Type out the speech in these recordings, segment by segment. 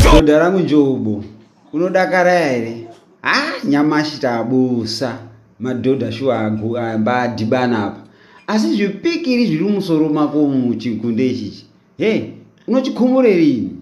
Dhodha rangu Njobo, unodakara here? Ah, nyamashi tabusa madhodha shuwa amba adhibana apa. Asi zvipikiri zviri musoro mako muchigunde ichichi. Hey, unochikhumurei?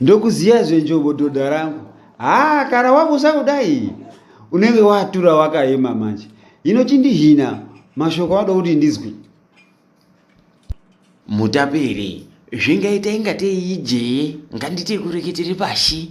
ndokuziya zvenjombo dhodha rangu haa kana wabusa kudai unenge watura wakaema manje hino chindihina mashoko anoda kuti ndizwi mutaperi zvingaita ingatei ijee nganditi kureketere pashi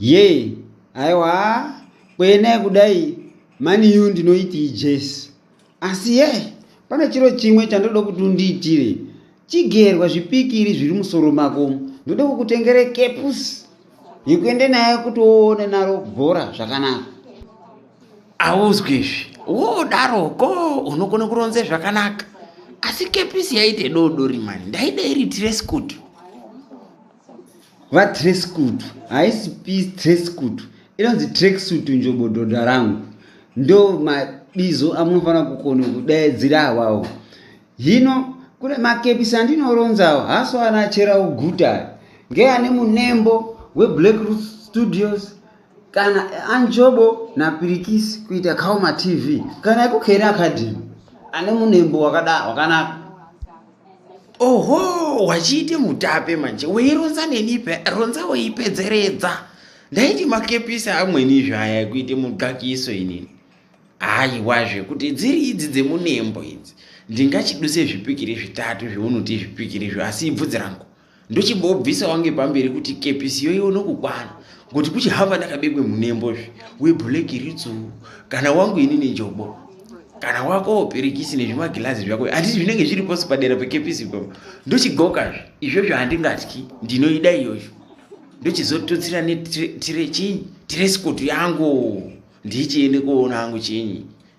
Yee aiwa kuenai kudai maniyu ndinoitii jesi asi ye pane chiro chimwe chandoda kuti undiitire chigerwa zvipikiri zviri musoro mako ndoda kukutengere kepus yekuende naye kuti woone naro bhora zvakanaka auzwi izvi wodaroko unogona kuronze zvakanaka asi kepisi yaite dodori mani ndaida iri tiresikuti vatreskutu haisi pi treskutu inonzi treksutu njobo dhodha rangu ndo mabizo amunofanira kukona kudaidzira awawo hino kune makepisi andinoronzawo haso anachera uguta ngeane munembo weblack root studios kana anjobo napirikisi kuita kaoma tv kana ekukheri academy ane munembo wakada wakanaka oho wachiite mutape manje weironza nenipe ronza weipedzeredza ndaiti makepisi amweni zvaya ekuite mudxakiso inini haiwa zvekuti dziri idzi dzemunembo idzi ndingachiduse zvipikiri zvitatu zveunoti zvipikiri zvo asi ibvudzi rangu ndochimbobvisa wange pamberi kuti kepisi yoiwo nokukwana ngokuti kuchihava ndakabekwe munembo zve webhuleki ritsu kana wangu ini nenjobo kana wako pirikisi nezvimagirazi zvako hati zvinenge zviri posi padera pekepisi ipapo ndochigoka zve izvozvo handingatyi ndinoida iyoyo ndochizotutsira netire chinyi tiresikotu yangu ndichiende koona angu chinyi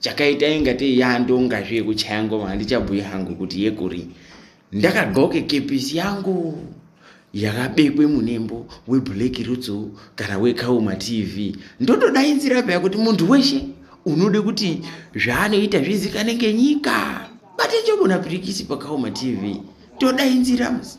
chakaita inga tei yandonga zve yekuchaya ngoma handichabhuye hangu kuti yekuri ndakadxoke kepisi yangu yakabekwe munembo weblack rutsu kana wekauma tv ndotodainzira paya kuti munhu weshe unode kuti zvaanoita zvizikanenge nyika batenjobona pirikisi pakauma tv todainzira musi